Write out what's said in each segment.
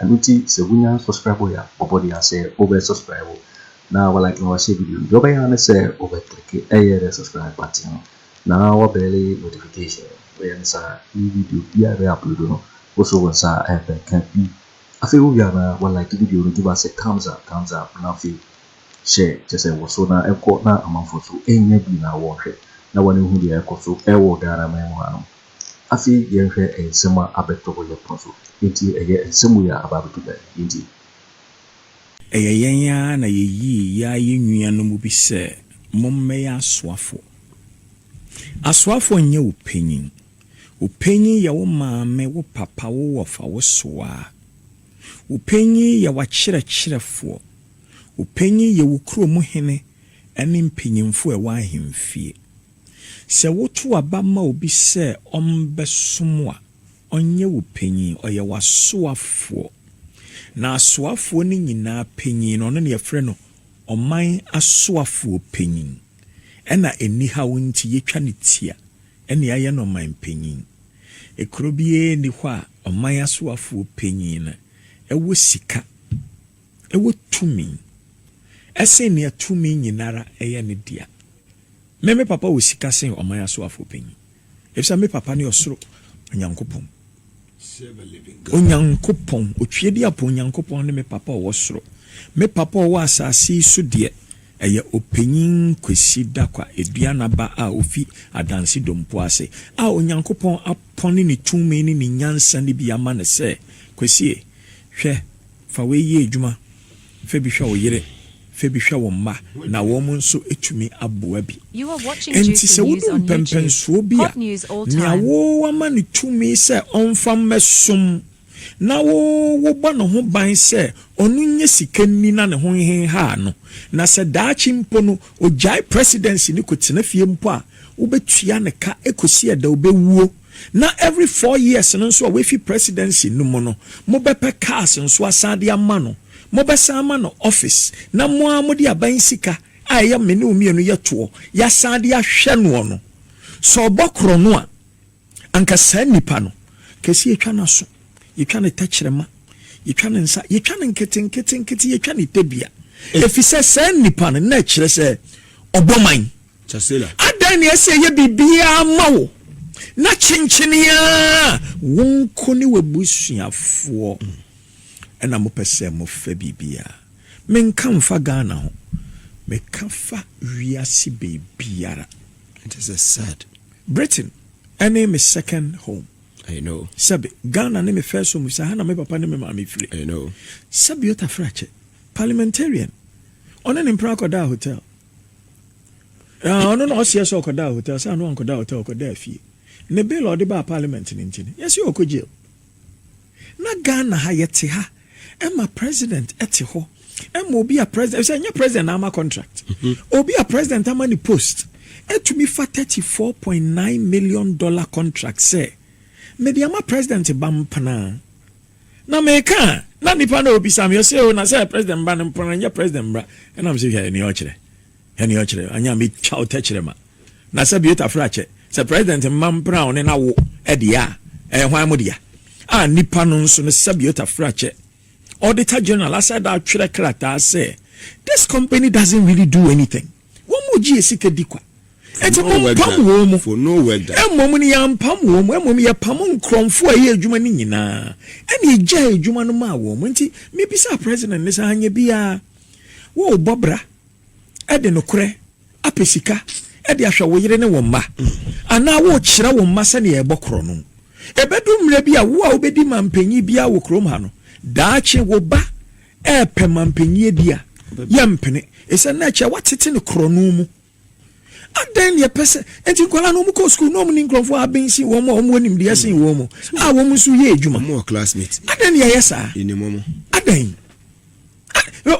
Ɛno nti sɛ wonya subscribe wo a, bɔbɔden a sɛ wobɛ subscribe wo na wa like na wa share video no, deɛ wobɛyɛ ara ne sɛ wobɛ click ɛyɛ the subscribe button no na wa bɛle notification. Woyɛ ne saa ne video biara bɛ upload no wo so wo nsa ɛbɛ ka bi. Afei wo wie a na wa like video no, give us a thumbs up, thumbs up, na afei share kyɛ sɛ wɔ so na ɛnkɔ na amanfoɔ nso ɛnya bi na wɔnhwɛ na wɔn hu deɛ ɛkɔ so ɛwɔ Ghana man mu hanom. Afei yɛnhwɛ nsɛm a abɛto wɔ yɛn pono so. Enti ɛyɛ nsɛm wei a aba abɛto bɛn nti? Ɛyɛ yɛn ara na yeyii yɛa yɛn nua no mu bi sɛ mommɛyɛ asoafo. Asoafo nyɛ wo panyin. Wo panyin yɛ wo maame, wo papa, wo wɔfa, wo soaa. Wo panyin yɛ w'akyerɛkyerɛfoɔ. Wo panyin yɛ wo kuro mu hene ne mpanyimfo a ɛwɔ ahemfie. Sɛ woto aba ma obi sɛ ɔmbɛsom wo a, ɔnnyɛ wo panyin, ɔyɛ w'asoafoɔ. Na asoafoɔ no nyinaa panyin no, ɔno na yɛfrɛ no ɔman asoafoɔ panyin. Ɛna anihaw nti yɛtwa no tia ne ayɛ no ɔman panyin. Kuro biara nni hɔ a ɔman asoafoɔ panyin no wɔ sika. Ɛwɔ tumi sen nea tumi nyinara yɛ no dea. Me, me papa wɔ sika sen ɔman asoafoɔ panyin, efisɛ me papa ne ɔsoro Onyankopɔn. Onyankopɔn, Otweaduapɔn Nyankopɔn ne me papa a ɔwɔ soro. Me papa a ɔwɔ asase yi so deɛ, ɛyɛ Ɔpanyin Kwesi Dakwa Aduana ba a ɔfi Adanse Dompo ase, a Onyankopɔn apɔne ne tumi ne ne nyansa no bi ama no sɛ, Kwesie, hwɛ, Fa wei yɛ adwuma, Fa bi hwɛ wo yere, fa bi hwɛ wo mma, na wɔn nso tumi aboa bi. Enti sɛ wudu mpɛnpɛnsoɔ bi a, nea woama no tumi sɛ ɔmfa mmɛsom na wo wobɔ ne ho ban sɛ ɔno nyɛ sika nni na ne ho nhenhaa no, na sɛ daakye mpo no ɔgyae presidency no kɔtena fie mpo a, wobɛtua ne ka kɔsi ɛda ɔbɛwuo. Na every four years no nso a wafi presidency no mu no, mobɛpɛ cars nso asan de ama no. Mobɛsan ama no office na mo ara mode aban sika a ɛyɛ me ne wo mmienu yɛ toɔ, yɛasan de ahwɛ noɔ no. Sɛ ɔbɔ korɔno a, anka saa nipa no, kɛse yɛtwa n'aso, yɛtwa ne tɛkyerɛma, yɛtwa ne nsa, yɛtwa no nketenkete nkete, yɛtwa ne tɛdua. Ɛfiri sɛ saa nipa no, na ɛkyerɛ sɛ ɔbɔ man. Adɛn na ɛsɛ sɛ ɛyɛ biribiara ma wo na kyenkyen ara wo nko ne w'abusuafoɔ na mopɛ sɛ mofa biribiara? Menka mfa Ghana ho, meka fa wiase baabiara. It is a sad. Britain ne me second home. I know. Sɛbe, Ghana ne me first home, sɛ ha na me papa ne me maame firi. I know. Sɛbe Otaferɛ akyɛ, parliamentarian, ɔne ne mpena akɔdaa hotel. Ah, ɔno na ɔseɛ sɛ ɔkɔdaa hotel, sɛ ano ankɔdaa hotel, ɔkɔdaa fie. Ne bill a ɔde baa parliament no nti no, yɛse ɔkɔ jail. Na Ghana ha yɛte ha, ɛma president ɛte hɔ, ɛma obi a president, sɛ ɛnyɛ president na ama contract, mhm. obi a president ama ne post, ɛtumi fa 34.9 million dollar contract sɛ, mede ama president ba mpena. na meka a, na nnipa no ɔbisa me, ɔsɛ o, na sɛ president mba no mpɔn nyɛ president mbra, ɛna mesɛ hwɛ nea ɔkyerɛ, hwɛ nea ɔkyerɛ, anyɛ a metwa wo tɛkyerɛma. Na sɛ Biota frɛ akyɛ, sɛ president mma mpena wo ne na wo deɛ a, ɛyɛ hwan mo dea? A nnipa no nso no sɛ Biota frɛ akyɛ, Auditor General asɛ da atwerɛ krataa sɛ, this company doesn't really do anything. Wɔn mu gyee sika di kwa. Enti wɔmpam wɔn mu. Mmom no, yɛampam wɔn mu. Mmom yɛpamoo nkorɔmfoɔ a ɛyɛ adwuma no nyinaa, ɛna yɛgyaa adwuma no maa wɔn. Enti mebisaa President no sɛ, Anyɛ biara, worebɔ bra de nokorɛ apɛ sika de ahwɛ wo yere ne wo mma? Anaa worekyerɛ wo mma sɛdeɛ yɛbɔ korɔno? Ɛbɛdu mmerɛ bi a, wo a wobɛdi manpanyin biara wɔ kurom ha no, daakye wo ba Ɛɛpɛ ma mpanyie bi a, yɛmpene. Esiane na ɛkyɛ watete no korɔno mu. Adɛn na ɛpɛ sɛ enti nkwadaa no wɔkɔ sukuu na wɔne nkurɔfoɔ a aben sen wɔn a wɔwɔ nimdeɛ sen wɔn mu a wɔn nso yɛ adwuma. Adɛn na yɛyɛ saa? Adɛn?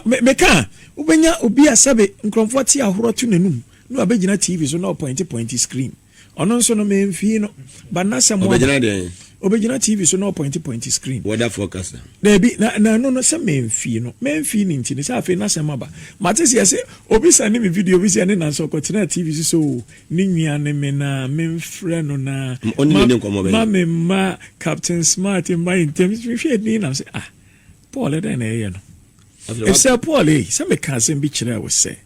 Meka a, wobɛnya obi a sɛbe nkurɔfoɔ te ahorɔ to n'anum na wabɛgyina TV so na ɔpɔinte pɔinte screen. Ɔno nso no memfii no. But na sɛ mo Ɔbɛgyina dɛn? Ɔbɛgyina TV so na ɔpɔinte pɔinte screen. Weather forecast na. Daabi, na na ɛno no sɛ memfii no. Memfii ne nti no sɛ afei n'asɛm aba. Mate sɛ yɛse obi sɛne me video bi sɛ ɛne Nancy ɔkɔtenaa TV so sɛ o, ne nua ne me na memfrɛ no na Ɔne ma, ne ne nkɔmmɔ bɛn? ma me mma Captain Smart mma yɛn ntam. Mehwɛɛ din na mese ah, Paul ɛdɛn na ɛyɛ no? Afei wa. Efisɛ Paul ei, sɛ meka asɛm bi kyerɛɛ wo sɛ.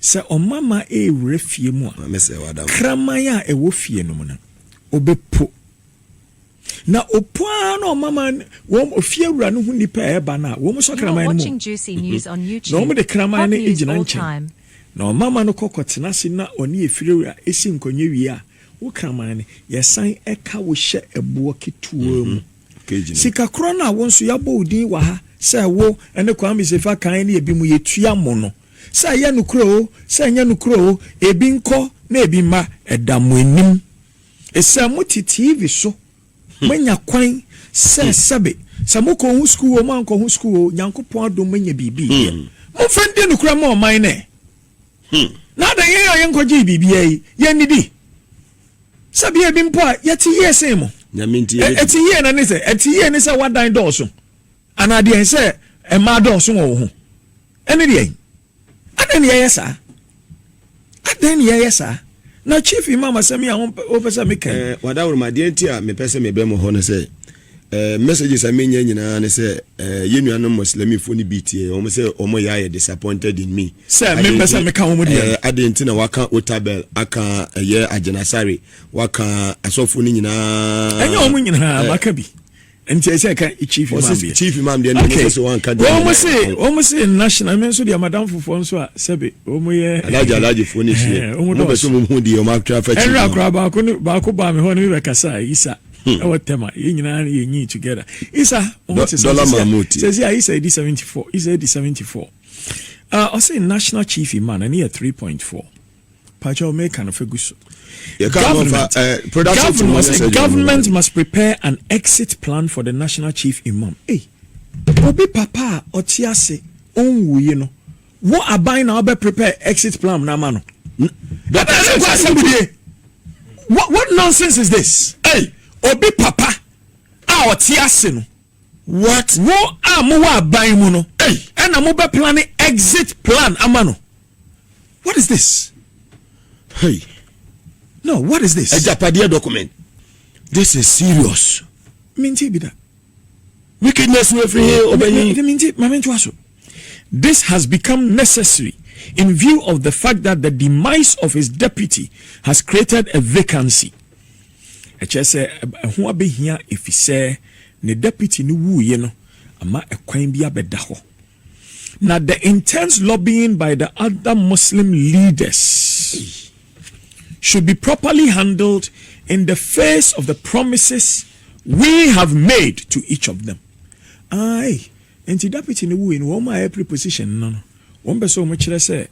Sɛ ɔmamma rewura fie mu a, kraman a ɛwɔ fie no mu no, ɔbɛpo. Na ɔpo ara na ɔmamma wɔn ofiewura no hu nnipa a ɛreba no a, wɔn nso kraman no mu. Na wɔde kraman no gyina nkyɛn, na ɔmamma no kɔ kɔtena ase na ɔne ofiewura si nkɔnyɛ wie a, wo kraman no, yɛsan ka wo hyɛ ɛboɔ ketewa mu. Sikakorɔ no a wo nso yɛabɔ wo din wɔ ha sɛ wo ne Kwame Sefa kan ne ebinom yɛtua mo no, sɛ ɛyɛ nokorɛ o, sɛ ɛnyɛ nokorɛ o, ebi nkɔ na ebi mma, ɛda mo anim. Sɛ mote TV so, moanya kwan sɛ sɛbe, sɛ mokɔɔ ho sukuu o, moankɔ ho sukuu o, Nyankopɔn adom moanya biribi yɛ. Momfa ndi nokorɛ mma ɔman no ɛ. Na adɛn yɛn a yɛnkɔgyee biribiara yi, yɛnnidi? sɛbi ebi mpo a yɛte yie sen mo ɛte yie na ne sɛ ɛte yie ne sɛ wadan dɔɔso anaa deɛ sɛ mmaa dɔɔso wɔ wo ho ɛne deɛ adɛn ne yɛyɛ saa adɛn ne yɛyɛ saa na chief imam asɛm yi a wopɛ sɛ meka eh, wadaworo ma deɛ nti a mepɛ sɛ mebɛ mo hɔ no sɛ Eh messages a menya nyinaa ne sɛ eh yɛn nuanom Muslimifo no bi tie wɔn sɛ wɔn yɛ ayɛ disappointed in me. Sɛ mempɛ sɛ meka wɔn deɛ. Eh adeɛ nti na waka Otabel aka ɛyɛ eh, Agyinasare waka asɔfo no nyinaa. Ɛnyɛ wɔn nyinaa eh. maka bi. Nti ɛsɛ ɛka chief imam deɛ. Chief imam deɛ na ɛsɛ sɛ wɔn anka deɛ. Wɔn se wɔn se national mi nso deɛ madam fofoɔ nso a sɛbi wɔn yɛ. Alaji alaji fo ne sie. Wɔn bɛ so mu hu deɛ wɔn atwa fɛ chief. Ɛnura akora baako baako baa mi hɔ ne mi bɛ kasa isa. ɛwɔ tɛm a yɛn nyinaa no yɛ nyi together isa mo ho te sɛ sɛ sɛ a isa edi seventy four isa edi seventy four ah ɔsɛ national chief imam ɛne yɛ three point four pàtó ɔmɛ kan fɛ gu so government government government must prepare an exit plan for the national chief imam ee obi papa a ɔte ase ɔnwuye no. Wo aban na ɔbɛ prepare exit plan na ama no. Ɛbɛ ɛsɛ kɔ asɛm bi die. What what nonsense is this? Ei, obi papa a ɔte ase no. What? Wo a mo wɔ aban mu no ɛna mo bɛ plane exit plan ama no. What is this? Hey. No, what is this? Agyapadeɛ document. This is serious. Mintie bi da. Wickedness no efi he ɔbɛ nyi? Dɛm nti ma me ntoa so. This has become necessary in view of the fact that the demise of his deputy has created a vacancy. Ɛkyerɛ sɛ ɛho abɛhia efisɛ ne deputy no wuiɛ no ama ɛkwan bi abɛda hɔ. Na the intense lobbying by the other Muslim leaders should be properly handled in the face of the promises we have made to each of them. Aye, nti deputy ne wui no, wɔn a ɛpre position no no, wɔn pɛ sɛ wɔn kyerɛ sɛ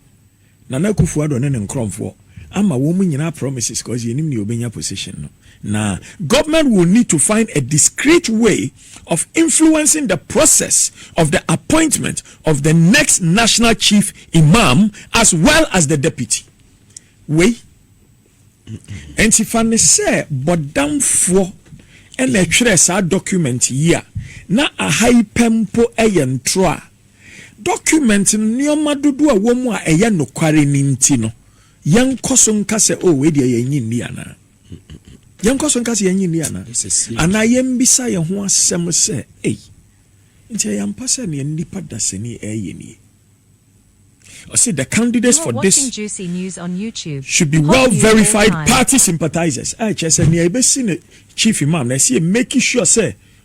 Nana Akuffo Addo ne ne nkrɔnfoɔ ama wɔn mo nyinaa promises cause yɛnim nea ɔbɛnya position no na government will need to find a discreet way of influencing the process of the appointment of the next national chief imam as well as the deputy wei nti fa ne sɛ bɔdamfoɔ ɛna ɛtwerɛ saa document yi a na aha yi pɛ mpo ɛyɛ ntorɔ a Dɔkumɛnt no nneɛma dodoɔ a ɛwɔ mu a ɛyɛ nokware no nti no, yɛnkɔ so nka sɛ, O, wei deɛ yɛnnye nni anaa? Yɛnkɔ so nka sɛ yɛnnye nni anaa? Anaa yɛmmisa yɛn ho asɛm sɛ, Ei, nti ɛyɛ ampa sɛ nea nnipa dasani reyɛ nie? Ɔse, The candidates for this should be well-verified party sympathizers, a ɛkyerɛ sɛ nea ɛbɛsi no Chief Imam no, ɛsɛ yɛmeki sure sɛ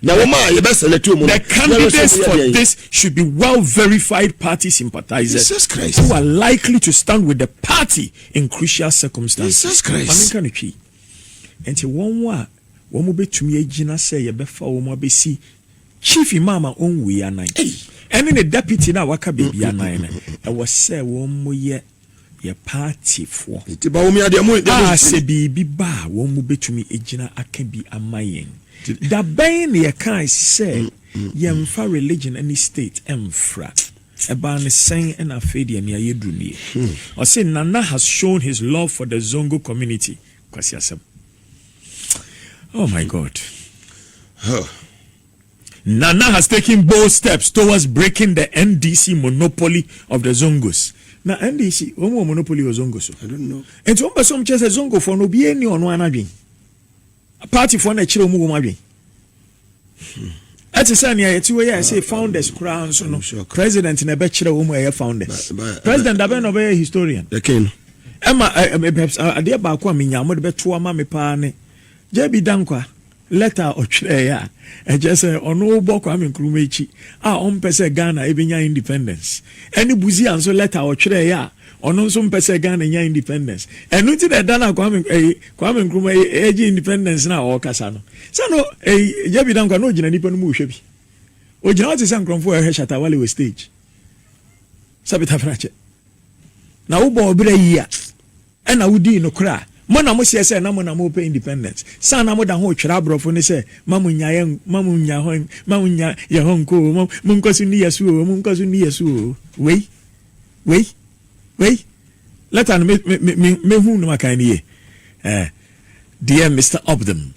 Na wɔn a yɛbɛ select wɔn no, yɛrehwɛ sɛ wɔyɛ deɛn. The candidates for this should be well verified party sympathizers. Jesus Christ. Who are likely to stand with the party in crucial circumstances. Jesus Christ. Maame nka no twi. Nti wɔn a wɔn bɛtumi agyina sɛ yɛbɛfa wɔn abɛsi chief imam a ɔnwui anan ɛne ne deputy no a waka baabi anan no ɛwɔ sɛ wɔn yɛ yɛ paatifoɔ a sɛ biribi ba a wɔn mu bɛtumi agyina aka bi ama yɛn. Da bɛn na yɛkae sɛ yɛmfa religion ne state mfra? Ɛbaa no sɛn na afei deɛ nea yɛduru nie? Ɔse Nana has shown his love for the Zongo community. Kwasi asɛm. Oh my God. Huh. Nana has taken bold steps towards breaking the NDC monopoly of the Zongos. Na NDC, wɔn wɔ monopoly wɔ Zongo so. Nti wɔn pɛ sɛ wɔn kyerɛ sɛ Zongofoɔ no obiara ni ɔno ara adwen. Partyfoɔ na ɛkyerɛ wɔn wɔn adwen. Hmm. ɛte sɛ nea yɛte wɔ yɛ ɛsɛ ah, founders ah, koraa nso no ah, president na ɛbɛkyerɛ wɔn mu ɛyɛ founders president abɛn na ɔbɛyɛ historian ɛma adeɛ baako a menya mo de bɛto ama me paa ne jb dankwa Lɛta a ɔtwerɛɛeɛ a ɛkyerɛ sɛ ɔno bɔ Kwame Nkrumah akyi a ɔmpɛ sɛ Ghana bɛnya independence, ɛne Busia nso lɛta a ɔtwerɛɛeɛ a ɔno nso mpɛ sɛ Ghana nya independence. Ɛno nti na ɛda no a Kwame ɛyi, Kwame Nkrumah yi ɛregye independence no a ɔrekasa no, sɛ no ɛyi, JB Danquah na ɔgyina nnipa no mu rehwɛ bi. Ɔgyina hɔ te sɛ nkorɔmfoɔ a ɛrehwɛ Shatta Wale wɔ stage. Sɛ Peter Frackyɛ, na wobɔ wo bra yi a. Ɛna wodii nokorɛ a mo na moseɛ sɛ na mo na mopɛ independence saa na moda ho retwerɛ aborɔfo no sɛ ma mo nya yɛn ma mo nya hɔ ma mo nya yɛn hɔ nko oo mo nkɔ so nni yɛ so oo mo nkɔ so nni yɛ so oo wei wei wei letter no me me me mehunu no makan no yie eh dear Mister Opdam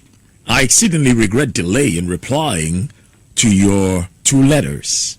I exceedingly regret delay in replying to your two letters.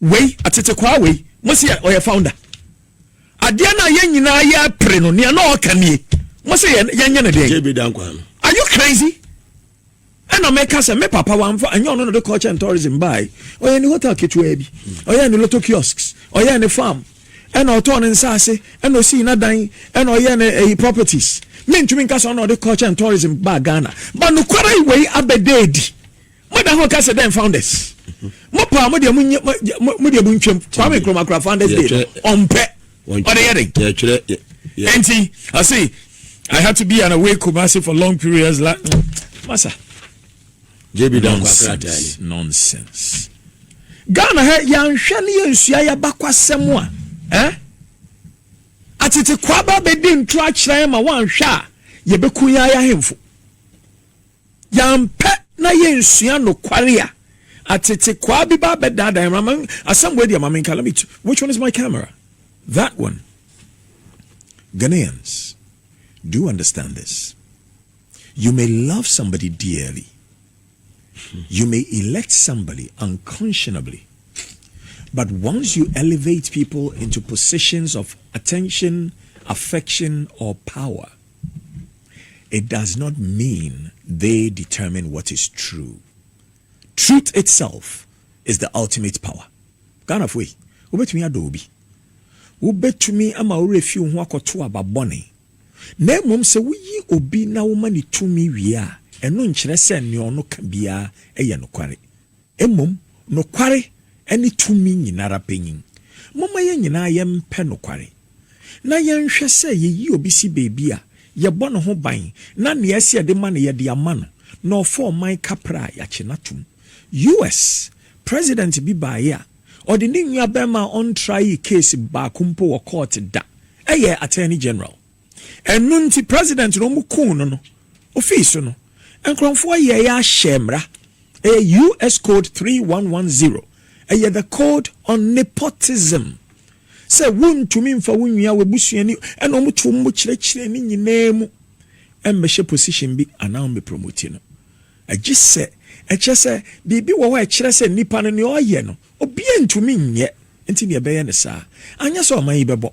Wei atetekwaa wei mo se ɔyɛ founder adeɛ no a yɛn nyinaa yɛ pere no nea na ɔka nie mo se yɛnyɛ no deɛ are you crazy ɛna meka sɛ me papa wamfa ɛnyɛ ɔno no de culture and tourism bae ɔyɛ ne hotel ketewaa bi ɔyɛ ne lotto kiosks ɔyɛ ne farm ɛna ɔtɔɔ ne nsaase ɛna ɔsii n'adan ɛna ɔyɛ ne ɛyi properties mentumi nka sɛ ɔna ɔde culture and tourism baa ghana ba nokwara yi wei abɛda adi Mo da ho kase dɛn founders. Mo pa mo deɛ mo nye mo deɛ mo ntwam. Kwame Nkrumah kura founders day no. Ɔmpɛ. Ɔde yɛ den. Yɛtwerɛ. Enti I say I had to be an away Kumasi for long periods la. Masa. JB nonsense. Nonsense. Ghana ha yɛanhwɛ ne yɛnsua yɛabakwasɛm a eh? atete kwaba bɛdi nto akyerɛ ma woanhwɛ a yɛbɛku yɛn ayɛ ahemfo Yɛampɛ na yɛnsua nokware a atetekwaa bi ba abɛdaadaa yɛn. Mama asɛm wei deɛ ma menka. Let me t which one is my camera? That one. Ghanaians, do you understand this? You may love somebody dearly. You may elect somebody unconscionably. But once you elevate people into positions of attention, affection, or power, It does not mean they determine what is true. Truth itself is the ultimate power. Ghanafoɔ yi, wobɛtumi adɔ obi, wobɛtumi ama wo werɛ fi wo ho akɔto aba bɔne, na mmom sɛ woyi obi na woma no tumi wie a, ɛno nkyerɛ sɛ nea ɔno ka biara yɛ nokware. Mmom nokware ne tumi nyinara panyin. Momma yɛn nyinaa yɛmpɛ nokware, na yɛnhwɛ sɛ yeyi obi si baabi a, yɛbɔ ne ho ban, na nea ɛsɛ yɛde ma no, yɛde ama no, na ɔfa ɔman kapra a, yɛakye no atom. US. President bi baeɛ a, ɔde ne nuabarima a ɔntraee case baako mpo wɔ court da, ɛyɛɛ Attorney General. Ɛno nti president no ɔmo kuu no no ofii so no nkrɔnfoɔ yɛɛ ahyɛɛ mmra ɛyɛ US code three one one zero ɛyɛ the code on nepotism sɛ wo ntumi nfa wo nua wo abusuani ɛna ɔmo to ɔmo kyerɛkyerɛ ne nyinaa mu ɛmbɛhyɛ position bi anaa ɔmo promoti no ɛgye sɛ ɛkyɛ sɛ biribi wɔ hɔ ɛkyerɛ sɛ nipa no nea ɔyɛ no Obiaa ntumi nyɛ nti na yɛbɛyɛ no saa anyɛ sɛ ɔman yi bɛbɔ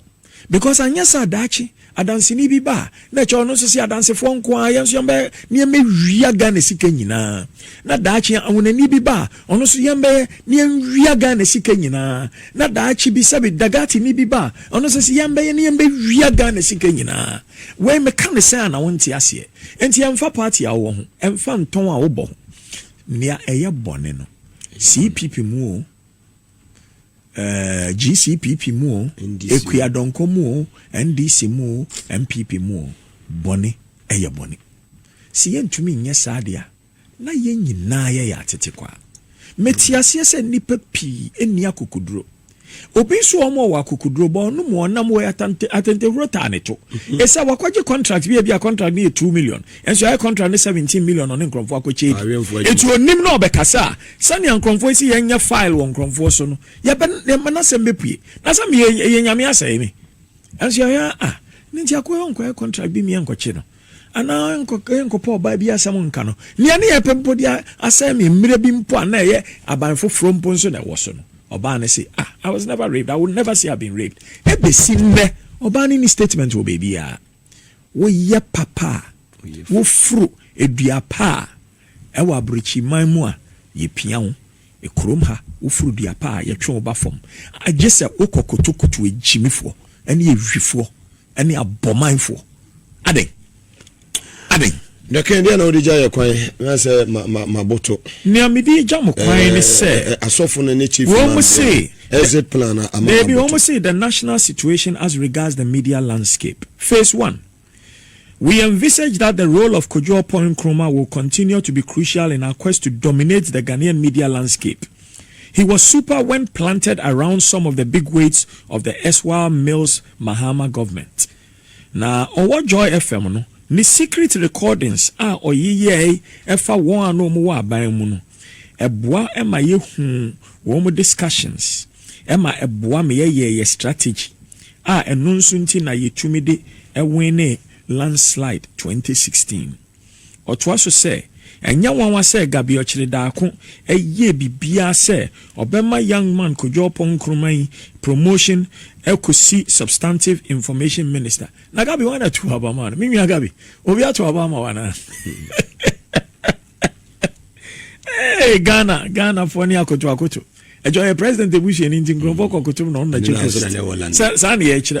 because anyɛ saa daakye adanseni bi ba a na ɛkyɛ ɔno nso se adansefoɔ nko ara yɛn nso yɛn bɛyɛ na yɛn bɛwia Ghana sika nyinaa na daakye awonani bi ba a ɔno nso yɛn bɛyɛ na yɛn wia Ghana sika nyinaa na daakye bi sɛbi dagatini bi ba a ɔno nso se yɛn bɛyɛ na yɛn bɛwia Ghana sika nyinaa wei meka ne sɛ a na wonte aseɛ nti ɛmfa party a wowɔ ho ɛmfa ntɔn a wobɔ ho Nea ɛyɛ bɔne no, CPP mu oo, eh, GCPP mu oo, Akuadɔnkɔ mu oo, NDC mu oo, NPP mu oo, bɔne yɛ bɔne. Se yɛntumi nnyɛ saa de a, na yɛn nyinaa yɛyɛ atetekwaa. Mete aseɛ sɛ nnipa pii nni akokoduro, Obi nso wɔ hɔ ma ɔwɔ akokoduro, bɔ ɔno mu ɔnam wɔ atante atantehuro taa ne to. Ɛsɛ wakɔgye contract bi a ebi a contract no yɛ two million, ɛnso yɛayɛ contract no seventeen million ɔne nkorɔmfoɔ akɔkyɛ adi. Awɛmfoɔ adwuma. Enti onim na ɔbɛkasa a, sɛnea nkorɔmfoɔ esi yɛn nyɛ file wɔ nkorɔmfoɔ so no, yɛbɛ yɛma n'asɛm bɛpue. Na sɛ meyɛ ɛyɛ Nyame asɛe me. Ɛnso yɛhwɛ a, ah, ne nti akɔ yɛ ɔnkɔyɛ contract bi mmea nkɔkye no. anaa ɛnkɔpɛ ɔbaa bi asɛm nka no. Nea ne yɛpɛ mpo de asɛe me mmerɛ bi mpo a na ɛyɛ aban foforɔ mpo nso na ɛwɔ so no, ɔbaa no se, Ah, I was never raped, I would never say I've been raped. Ɛbɛsi nnɛ, ɔbaa no nni statement wɔ baabiara. Woyɛ papa a, woforo dua pa a, ɛwɔ aborɔkyiman mu a, yɛpia wo. Kurom ha, woforo dua pa a, yɛtwe wo ba fam. Gye sɛ wokɔ kotokuto agyimifoɔ ne awifoɔ ne abɔmanfoɔ. Adɛn? Adɛn? Dɛkɛn, deɛn na wode gya yɛ kwan na sɛ ma, ma, maboto? Nea mede agya mo kwan ne eh, sɛ. Eh, eh, asɔfo no ne chief imam. Wɔn se. Exit plan a ama Dabi, wɔn se the national situation as regards the media landscape. Phase one. We envisage that the role of Kojo Oppong Nkrumah will continue to be crucial in our quest to dominate the Ghanaian media landscape. He was super when planted around some of the big weights of the erstwhile mills Mahama Government. Na ɔwɔ Joy FM no, ne secret recordings a ɔyeyɛe fa wɔn a na wɔwɔ aban mu no, ɛboa ma yehu wɔn discussions, ɛma ɛboa ma yɛyɛ yɛn strategy, a ɛno nso nti na yetumi de winee landslide twenty sixteen. Ɔtoa so sɛ, Ɛnyɛ nwanwa sɛ Gabriel kyeree daako yɛɛ biribiara sɛ ɔbɛma Young Man Kojo Oppong Nkrumah yi promotion kɔsi Substantive Information Minister. Na Gabi, hwan na tuu aba maa no? Me nua Gabi, obi ato aba ama wo anaa? Hey, Ghana, Ghanafoɔ ne akoto akoto. ɛkyɛ ɔyɛ president ebusuani nti nkurɔfoɔ kɔ kotom na ɔno na chief saa na yɛkyerɛ.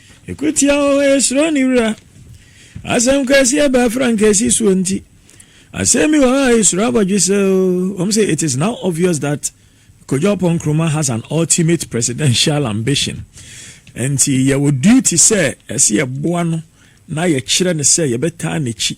Ko tia wɔn a esuro ne wura. Asɛm kɛseɛ bɛɛ frankaasi soɔ nti. Asɛm bi wɔ hɔ a esuro abɔdwe sɛ o, wɔn sɛ it is now obvious that Kojo Oppong Nkrumah has an ultimate presidential ambition. Nti yɛwɔ duty sɛ ɛsɛ yɛboa no na yɛkyerɛ no sɛ yɛbɛtaa n'akyi.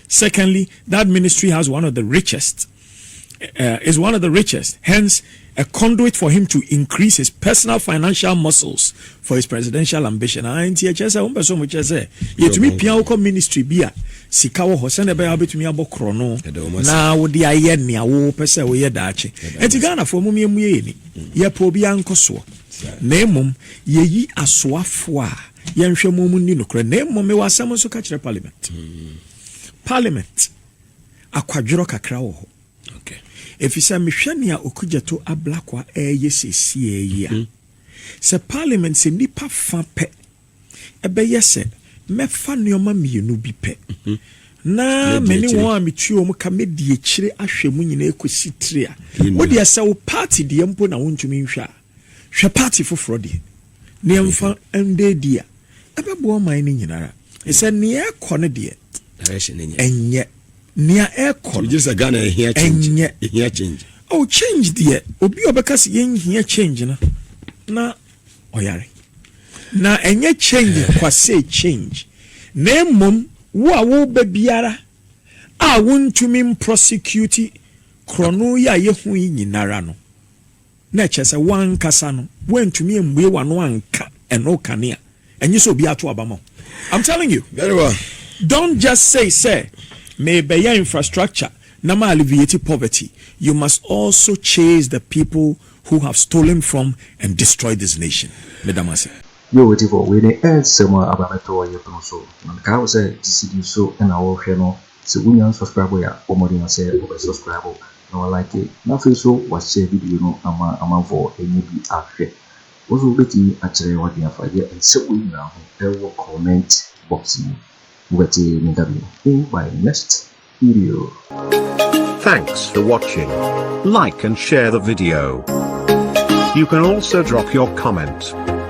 Secondly, that ministry has one of the richest, uh, is one of the richest, hence, a conduit for him to increase his personal financial muscles for his presidential ambition. Ah, nti ɛkyɛ sɛ wɔn pɛsɛ wɔn kyɛ sɛ yɛtumi pia wokɔ ministry bi a sika wɔ hɔ sɛnɛ bɛyɛ wobɛtumi abɔ korɔ no na wode ayɛ nea wopɛ sɛ woyɛ daakye ɛnti ghanafoɔ mom yɛmu yɛyɛ ni yɛpɛ obi ankɔ soɔ na mmom yɛyi asoafoɔ a Yɛnhwɛ mo mu nni nokorɛ na mmom mewɔ asɛm nso ka kyerɛ parliament. Parliament, akwadworɔ kakra wɔ hɔ. Ɛfiri sɛ mehwɛ nea Okudzeto Ablakwa ɛreyɛ seesie yi a, sɛ parliament sɛ nnipa fa pɛ ɛbɛyɛ sɛ mɛfa nneɛma mmienu bi pɛ na me ne wɔn a metua wɔn ka mɛdi akyire ahwɛ mu nyinaa kɔsi tiri a wodeɛ sɛ wo party deɛ mpo na wontumi nhwɛ a Hwɛ part foforɔ deɛ. Ne yɛmfa ndɛ di a, ɛbɛboa ɔman no nyinara. Ɛsɛ nea ɛkɔ no deɛ, ɛnyɛ. Nea ɛkɔ no, ɛnyɛ. Oh change deɛ, obi a ɔbɛka sɛ yɛnhia change no, na ɔyare. Na ɛnyɛ change kwasɛ change, na mmom wo a woba biara a wontumi mprɔsekiyuti korɔno yi a yɛhu yi nyinara no, na ɛkyerɛ sɛ woankasa no woantumi ammue w'ano anka ɛno kane a, ɛnye sɛ obiara to aba ma wo. I'm telling you, Very well. don't just say sɛ merebɛyɛ infrastructure na ma alleviate poverty, you must also chase the people who have stolen from and destroyed this nation. Meda mo ase. Yo Otifo, wei ne Earth sɛm a aba abɛtɔ yɛn pono so. Na mekae wo sɛ GCD so na wo hwɛ no. Sɛ wonya unsubscribe yɛ a bɔ mmɔden sɛ wobɛ subscribe na wa like na afei nso wa share video no ama amanfoɔ ɛnyɛ bi ahwɛ. Wo nso wobɛtumi akyerɛ w'adwene afa deɛ nsɛm wei nyinaa ho ɛwɔ comment box mu. Mobɛte me nka bio in my next video. Thanks for watching. Like and share the video. You can also drop your comment.